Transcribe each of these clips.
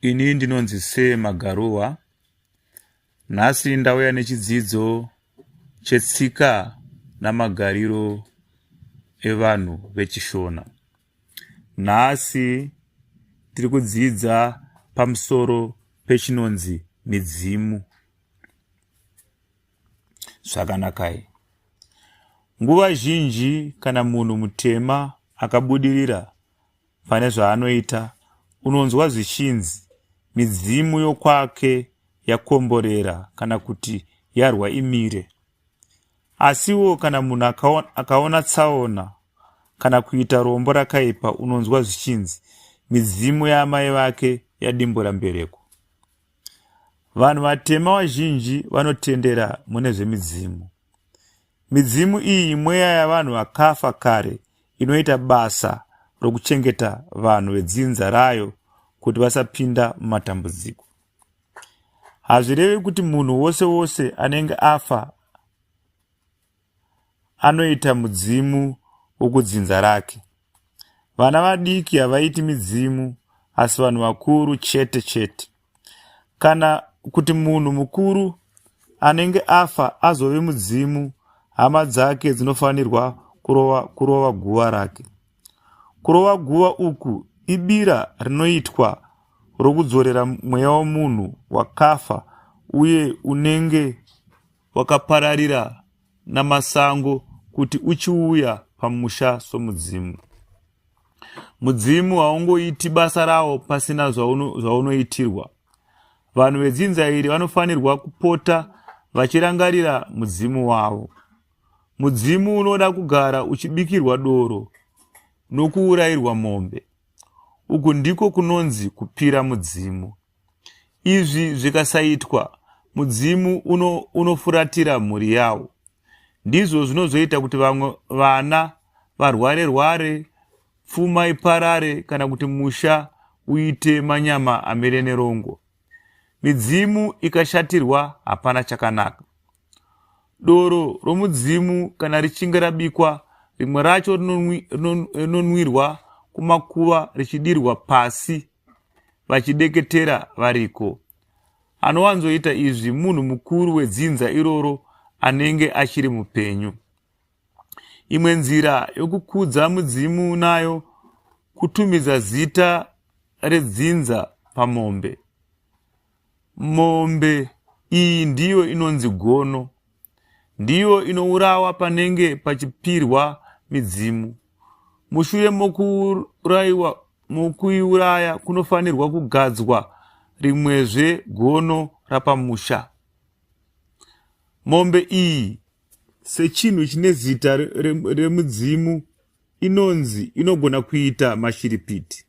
Ini ndinonzi Sir Magaruwa. Nhasi ndauya nechidzidzo chetsika namagariro evanhu vechishona. Nhasi tiri kudzidza pamusoro pechinonzi midzimu. Zvakanakai. Nguva zhinji kana munhu mutema akabudirira pane zvaanoita unonzwa zvichinzi midzimu yokwake yakomborera kana kuti yarwa imire asiwo kana munhu akaona tsaona kana kuita rombo rakaipa unonzwa zvichinzi midzimu yaamai vake yadimbura mbereko vanhu vatema vazhinji vanotendera mune zvemidzimu Midzimu iyi imweya yavanhu vakafa kare inoita basa rokuchengeta vanhu vedzinza rayo kuti vasapinda mumatambudziko. Hazvirevi kuti munhu wose wose anenge afa anoita mudzimu wokudzinza rake. Vana vadiki havaiti midzimu asi vanhu vakuru chete chete. Kana kuti munhu mukuru anenge afa azove mudzimu, hama dzake dzinofanirwa kurova, kurova guva rake. Kurova guva uku ibira rinoitwa rokudzorera mweya womunhu wakafa uye unenge wakapararira naMasango kuti uchiuya pamusha somudzimu. Mudzimu haungoiti basa rawo pasina zvaunoitirwa. Vanhu vedzinza iri vanofanirwa kupota vachirangarira mudzimu wavo. Mudzimu unoda kugara uchibikirwa doro nokuurayirwa mombe. Uku ndiko kunonzi kupira mudzimu. Izvi zvikasaitwa, mudzimu uno, unofuratira mhuri yawo. Ndizvo zvinozoita kuti vamwe vana varware rware, pfuma iparare kana kuti musha uite manyama amire nerongo. Midzimu ikashatirwa hapana chakanaka. Doro romudzimu kana richinge rabikwa, rimwe racho rinonwirwa kumakuva richidirwa pasi vachideketera variko. Anowanzoita izvi munhu mukuru wedzinza iroro anenge achiri mupenyu. Imwe nzira yokukudza mudzimu nayo kutumidza zita redzinza pamombe. Mombe iyi ndiyo inonzi gono ndiyo inourawa panenge pachipirwa midzimu. Mushure mokuuraiwa mokuiuraya kunofanirwa kugadzwa rimwezve gono rapamusha. Mombe iyi sechinhu chine zita remudzimu inonzi inogona kuita mashiripiti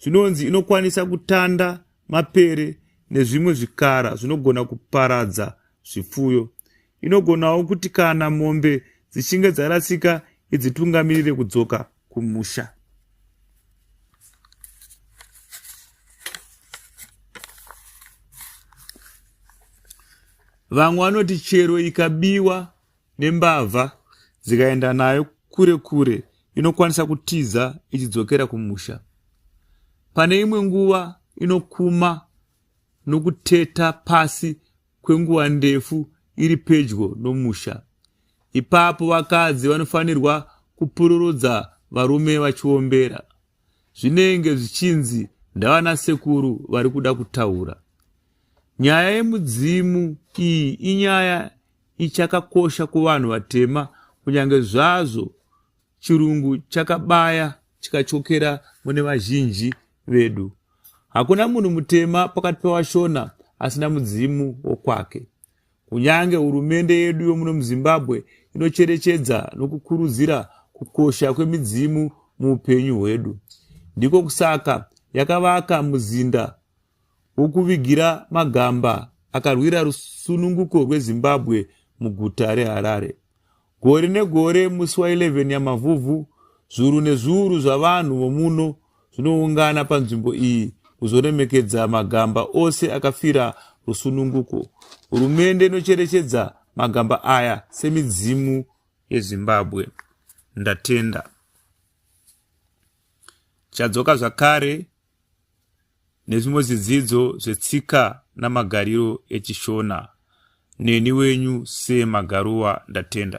zvinonzi inokwanisa kutanda mapere nezvimwe zvikara zvinogona kuparadza zvipfuyo inogonawo kuti kana mombe dzichinge dzarasika idzitungamirire kudzoka kumusha vamwe vanoti chero ikabiwa nembavha dzikaenda nayo kure kure inokwanisa kutiza ichidzokera kumusha pane imwe nguva inokuma nokuteta pasi kwenguva ndefu iri pedyo nomusha ipapo vakadzi vanofanirwa kupururudza varume vachiombera zvinenge zvichinzi ndavana sekuru vari kuda kutaura nyaya yemudzimu iyi inyaya ichakakosha kuvanhu vatema kunyange zvazvo chirungu chakabaya chikachokera mune vazhinji vedu hakuna munhu mutema pakati pevashona asina mudzimu wokwake kunyange hurumende yedu yomuno muzimbabwe inocherechedza nokukurudzira kukosha kwemidzimu muupenyu hwedu ndiko kusaka yakavaka muzinda wokuvigira magamba akarwira rusununguko rwezimbabwe muguta reharare gore negore musi wa11 yamavhuvhu zviuru nezviuru zvavanhu vomuno zvinoungana panzvimbo iyi kuzoremekedza magamba ose akafira rusununguko hurumende inocherechedza magamba aya semidzimu yezimbabwe ndatenda chadzoka zvakare nezvimwe zvidzidzo zvetsika namagariro echishona neni wenyu semagaruwa ndatenda